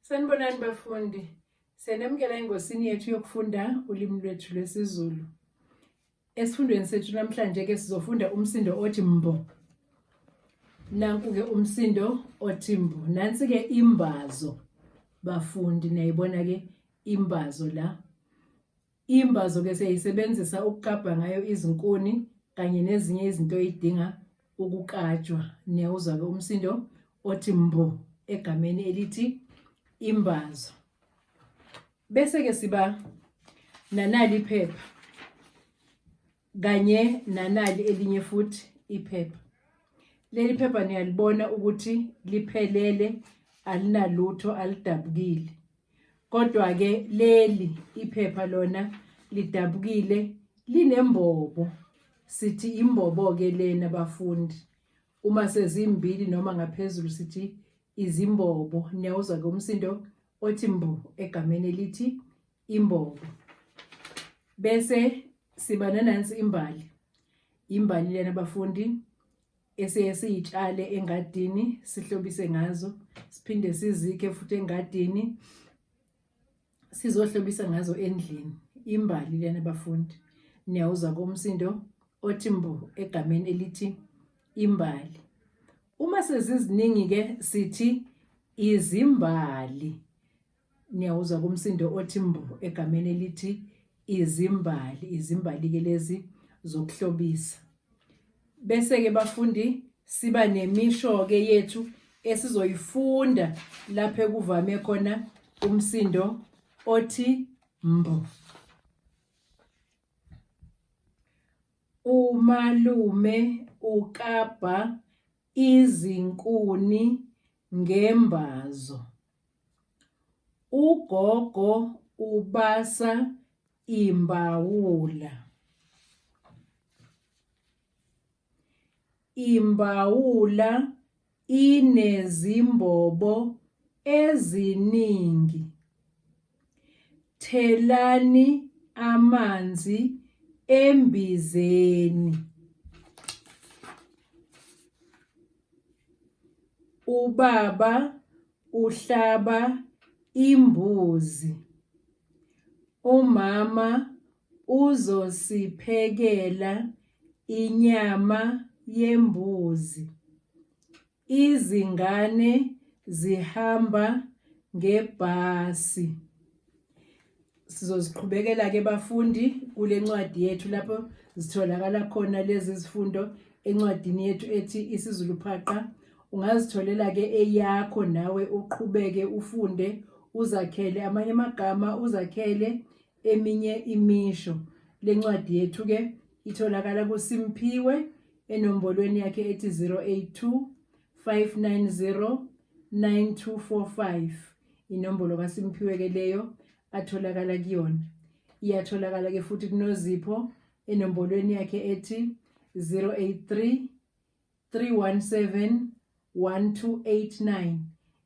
Sanibonani bafundi. Siyanemukela engosini yethu yokufunda ulimi lwethu lwesiZulu. Esifundweni sethu namhlanje ke sizofunda umsindo othi mbo. Nanku ke umsindo othi mbo. Nansi ke imbazo bafundi niyayibona ke imbazo la. Imbazo ke siyayisebenzisa ukukabha ngayo izinkuni kanye nezinye izinto eyidinga ukukatshwa. Niyawuzwa ke umsindo othi mbo egameni elithi imbazo. Bese ke siba nanali iphepha. kanye nanali elinye futhi iphepha leli phepha niyalibona ukuthi liphelele alinalutho alidabukile kodwa ke leli iphepha lona lidabukile linembobo sithi imbobo ke lena bafundi uma sezimbili noma ngaphezulu sithi izimbobo niyawuzwa ke umsindo othi mbo egameni elithi imbobo bese siba nanansi imbali imbali lena bafundi esiye siyitshale engadini sihlobise ngazo siphinde sizikhe futhi engadini sizohlobisa ngazo endlini imbali lena bafundi niyawuza komsindo othi mbo egameni elithi imbali uma seziziningi ke sithi izimbali niyawuzwa kumsindo othi mbo egameni elithi izimbali izimbali-ke lezi zokuhlobisa bese-ke bafundi siba nemisho-ke yethu esizoyifunda lapho ekuvame khona umsindo othi mbo umalume ukabha izinkuni ngembazo Ugogo ubasa imbawula. Imbawula inezimbobo eziningi. Thelani amanzi embizeni. Ubaba uhlaba imbuzi. Umama uzosiphekela inyama yembuzi. Izingane zihamba ngebhasi. Sizoziqhubekela ke bafundi kule ncwadi yethu lapho zitholakala khona lezi zifundo encwadini yethu ethi isiZulu phaqa. Ungazitholela ke eyakho nawe uqhubeke ufunde uzakhele amanye amagama uzakhele eminye imisho. Le ncwadi yethu-ke itholakala kuSimphiwe enombolweni yakhe ethi 082 590 9245 inombolo kaSimphiwe ke leyo atholakala kuyona iyatholakala ke futhi kunozipho enombolweni yakhe ethi 083 317 1289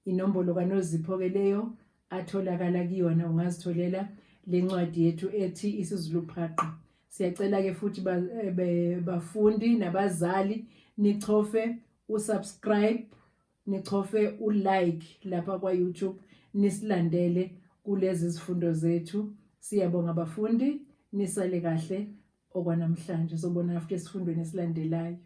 inombolo kanozipho ke leyo atholakala kuyona ungazitholela lencwadi yethu ethi isizulu phaqa siyacela ke futhi eh, bafundi nabazali nichofe usubscribe nichofe ulike lapha kwa YouTube nisilandele kulezi zifundo zethu siyabonga bafundi nisale kahle okwanamhlanje sobona after isifundweni esilandelayo